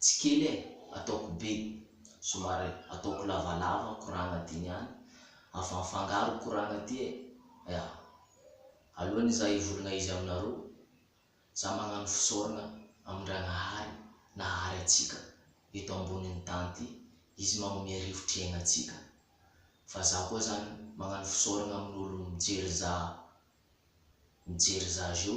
Tsy kely e! Ataoko be, somary ataoko lavalava ny koragna aty niany, afa mifangaro ny koragna aty e! Ea! Alohan'ny za hivolagna izy aminareo, za magnano fisaoragna amin-dRagnahary nahary antsika eto ambonin'ny tany ty, izy magnomea rivotry aigna antsika, fa za koa zany magnano fisaoragna amin'olo mijery za mijery za zeo,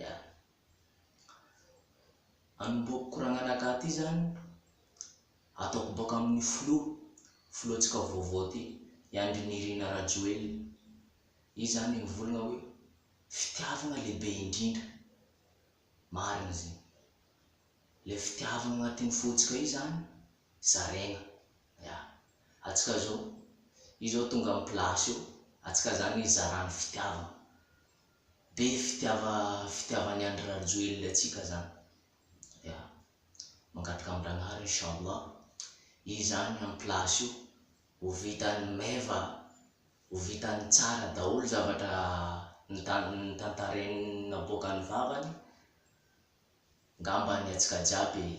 Yaa. Anombohako koragnanaka aty zany, ataoko boaka amin'ny flou, flou-ntsika vaovao aty, i Andry Nirina Rajoelina. Izy zany nivolagna hoe fitiavagna lehibe indrindra. Marigna zegny. Le fitiavagna agnatin'ny fontsika io zany zaraigna. Ya. Antsika zao, io zao tonga am place io, antsika zany hizarà ny fitiavagna. Be fitiava fitiavan'i Andry Rajoelina antsika zany. Ya. Mangataka amin-dragnahary inchallah i zany en place io ho vitan'ny meva, ho vitan'ny tsara daholo zavatra notantarainy naboakan'ny vavany ngambany antsika jiaby e.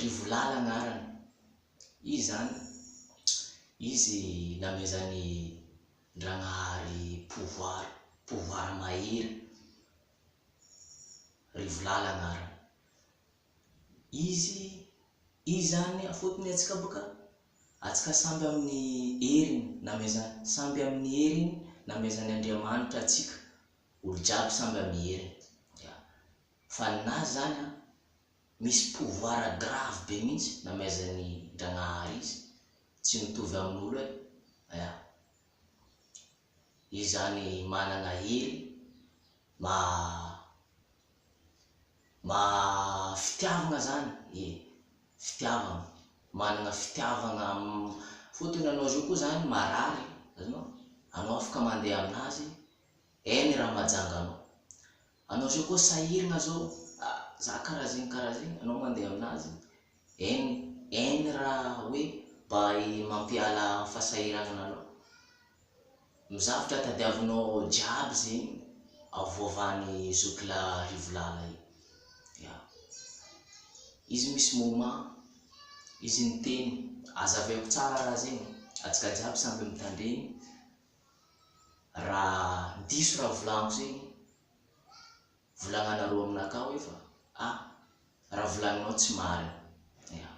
Rivolala agnarany. Izy zany, izy namezan'i Ndragnahary pouvoir, pouvoir mahery. Rivolala agnarany. Izy, izy zany afotony atsika boka, atsika samby amin'ny heriny namezany, samby amin'ny heriny namezan'Andriamanitra atsika. Olo jiaby samby amin'ny heriny. Ya. Fa ninazy zany an, misy pouvoir grave be mintsy namaizany Ndragnahary izy, tsy mitovy amin'olo e, ya. Izy zany managna hery maha maha fitiavagna zany, ie, fitiavagna, managna fitiavagna fotony anao zao koa zany marary, azonao? anao afaka mandeha aminazy any raha majanganao. Anao zao koa sahirgna zao a za karaha zegny karaha zegny anao mandeha aminazy en en raha hoe mba mampiala am fasahiragnana anao ny zavtra tadiavinao jiaby zegny avoavany zoky la rivolala io ya izy misy moment izy miteny azaveko tsara raha zegny atsika jiaby samby mitandregny Raha diso raha volagno zegny, volagnanareo aminakahy hoe fa a raha volagninao tsy marigny. Ya.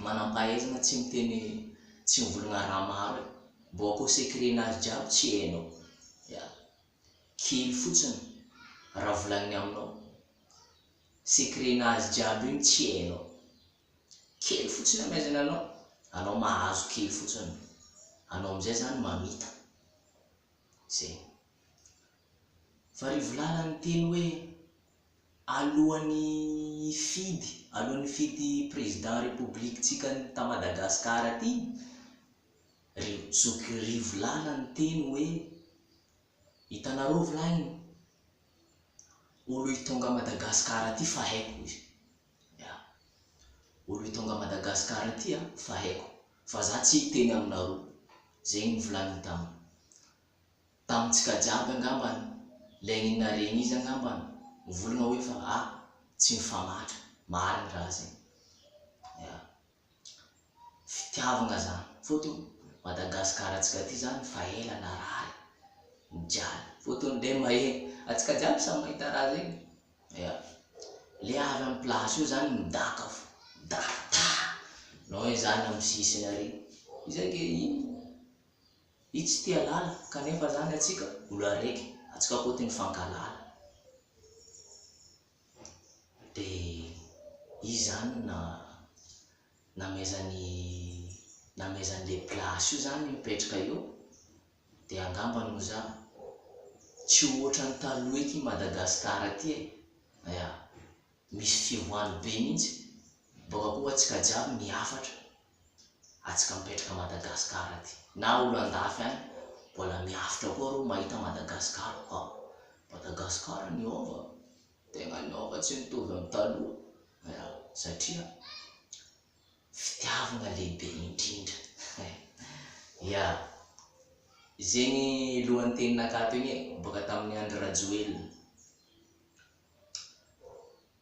Manam-pahaizana tsy miteny tsy mivolagna raha maro e. Mbô akao secret-nazy jiaby tsy hainao. Ya. Kely fotsiny raha volagniny aminao. Secret-nazy jiaby igny tsy hainao. Kely fotsiny angaha izay nanao? Anao mahazo kely fotsiny, anao amin'izay izany mamita. Izay. Farivolala niteny hoe alohan'ny hifidy, alohan'ny hifidy président république-tsika ta Madagascar aty, ry zoky Rivolala niteny hoe, hitanareo volahy, olo hitonga Madagascar aty fa haiko izy. Ya. Olo i Tonga Madagascar ity a fa haiko fa za tsy hiteny aminaroo. Zegny nivolaniny tam. Tamintsika jiaby angambany lay iny naregny izy angambany mivolagna hoe fa a tsy mifamatra. Marigny raha zegny. Ya. fitiavagna zany fotony Madagascar antsika ty zany fa ela narary nijaly fotony le maheno antsika jiaby samy mahita raha zegny ya le avy amy place io zany midaka fo midaka ta nao izy zany amy sisiny ary izy ake ino izy tsy tia lala kanefa zany antsika olo araiky antsika koa ty mifankalala dia izy zany na namezan'i namezan'le place io zany mipetraka eo dia angamba no za tsy ohatran'ny taloha ety Madagascar aty e ya misy fivoahany be mintsy boka koa atsika jiaby mihafatra atsika mipetraka Madagascar aty na olo andafy any mbola miavotra koa reo mahita Madagascar koa Madagascar niova tegna niova tsy mitovy am taloha ya satria fitiavagna lehibe indrindra ya zegny lohan'ny teninakato igny e boka tamin'ny Andry Rajoelina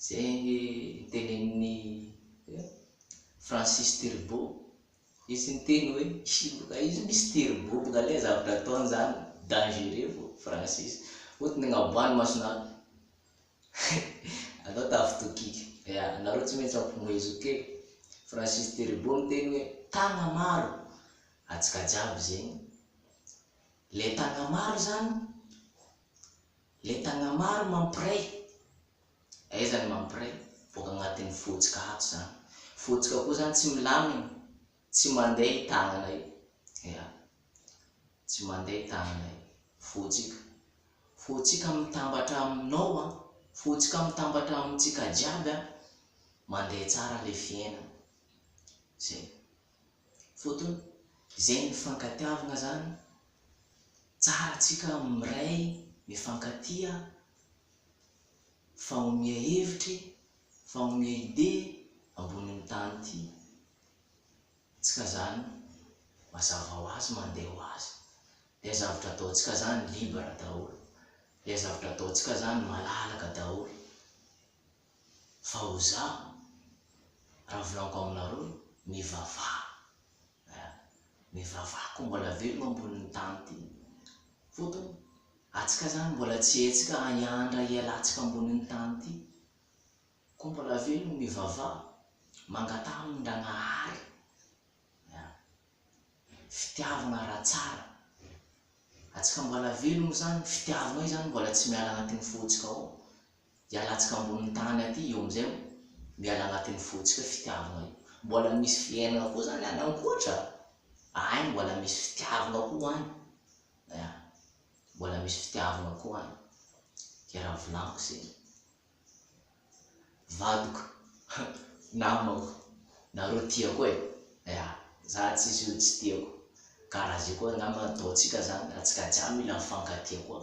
Izay ange tenenin'i Francis Turbo. Izy niteny hoe hiloka izy misy turbo boka ilay zavatra ataony izany dangereux vao Francis. Ohatry ny agnaboahan'ny mason'ady. Anao tafitokiko. Ya, anareo tsy maintsy ampihomezoka e. Francis Turbo niteny hoe tagna maro antsika jiaby zegny. Ilay tagna maro izany Lentagna maro mampiray. Aiza ny mampiray? Boaka agnatin'ny fotsika ato zany. Fotsika koa zany tsy milamigny, tsy mandeha i tagnana io. Ya. Tsy mandeha i tagnana io. Fotsika. Fotsika mitambatra aminao an. Fotsika mitambatra amintsika jiaby an. Mandeha tsara le fiainana. Zay. fotony izay nifankatiavagna zany tsara tsika miray mifankatia fa omia hevitry fa omia ide ambonin'ny tany ty tsika zany mazava ho azy mandeha ho azy le zavatra ataontsika zany libre daholo le zavatra ataontsika zany malalaka daholo fa ho za raha volagniko aminareo mivavaha eh mivavaha ko mbola velogno ambonin'ny tany ty fotony atsika zany mbola tsy hetsika hiandra hialantsika ambonin'ny tany ty ko mbola velogno mivavaha mangataha amin-dragnahary eh fitiavagna raha tsara atsika mbola velogno zany fitiavagna io zany mbola tsy miala agnatin'ny fotsika ao dia alantsika ambony tany aty io amin'izay o, miala agnatin'ny fontsika fitiavagna io, mbola misy fiainagna koa zany any ankoatra a, aigny mbola misy fitiavagna koa agny, ya, mbola misy fitiavagna koa agny, ke raha volagniko zegny, vadiko, namako, nareo tiako e, ya, za tsisy olo tsy tiako, karaha zay koa angamba ataontsika zany, atsika jiaby mila mifankatia koa.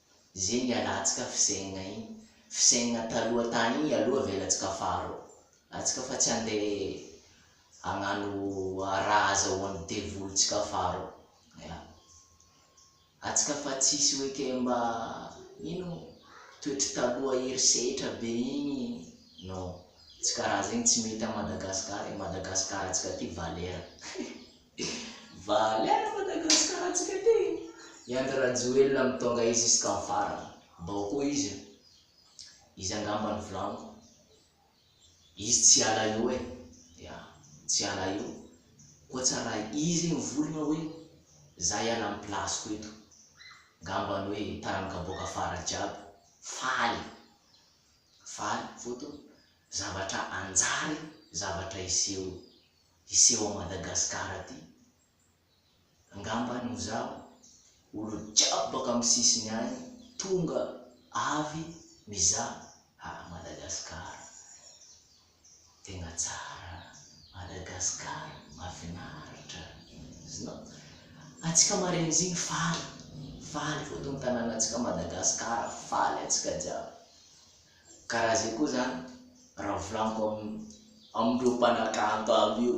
Zinga alantsika fizengna iny fizengna taloha tany iny aloha avelatsika faro atsika fa tsy ande agnano raha azahoany devoly tsika faro ya atsika fa tsisy hoe ke mba ino toetry taloha ery setra be iny non tsy karaha zegny tsy mety a Madagascar e Madagascar atsika ty valera Valera Madagascar tsika ty. I Andry Rajoelina mi tonga izy jusqu'à ny farany. Mbao koa izy io. Izy angamba ny volaniko. Izy tsy hiala eo e. Ya. Tsy hiala eo. Koa tsy raha izy mivolgna hoe za hiala amin'ny place ko eto. Ngambany hoe taranaka boaka fara jiaby. Faly. Faly. Foto. Zavatra anjary. Zavatra hiseho. hiseho à Madagascar aty. Angamba any hozaho olo jiaby baka am sisiny any tonga avy mizaha à Madagascar. Tegna tsara Madagascar mafinaritra znao. Atsika marenjigny faly faly fotony tananatsika Madagascar faly atsika jiaby. Ka raha izay koa izany, raha volaniko amin'ireo mpanakanto aby io,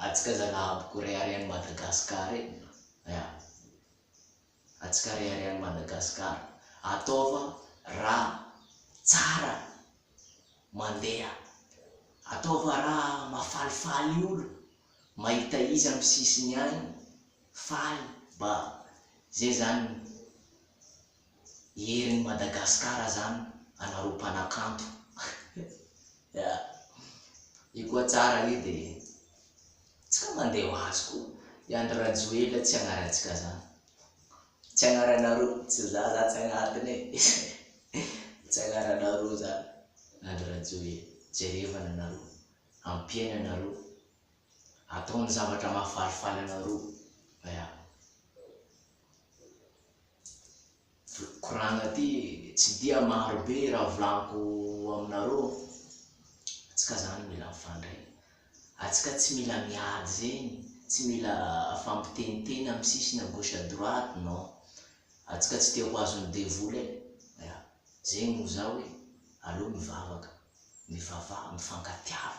antsika Zanahabo ko rehareha an'i Madagascar e! ya, antsika rehareha an'i Madagascar, ataova raha tsara mandeha, ataova raha mafalifaly olo mahita izy amin'ny sisiny any faly, ba zay zany Herin'i Madagasikara zany anareo mpanakanto Io koa tsara io de tsika mandeha ho azy koa I Andry Rajoelina tsy agnarantsika zany Tsy agnaranareo Tsy za za tsy agnatiny e Tsy agnaranareo zany Andry Rajoelina Jerevana anareo Ampiaina anareo Ataony zavatra mahafalifaly anareo Ya Koragna ty tsy dia maro be raha volaniko aminareo atsika zany mila mifandray atsika tsy mila miady zegny tsy mila fampiteniteny amy sisiny à gauche à droite non atsika tsy te ho azon'ny devoly e ya zegny no zaho e aleo mivavaka mivavaha mifankatiava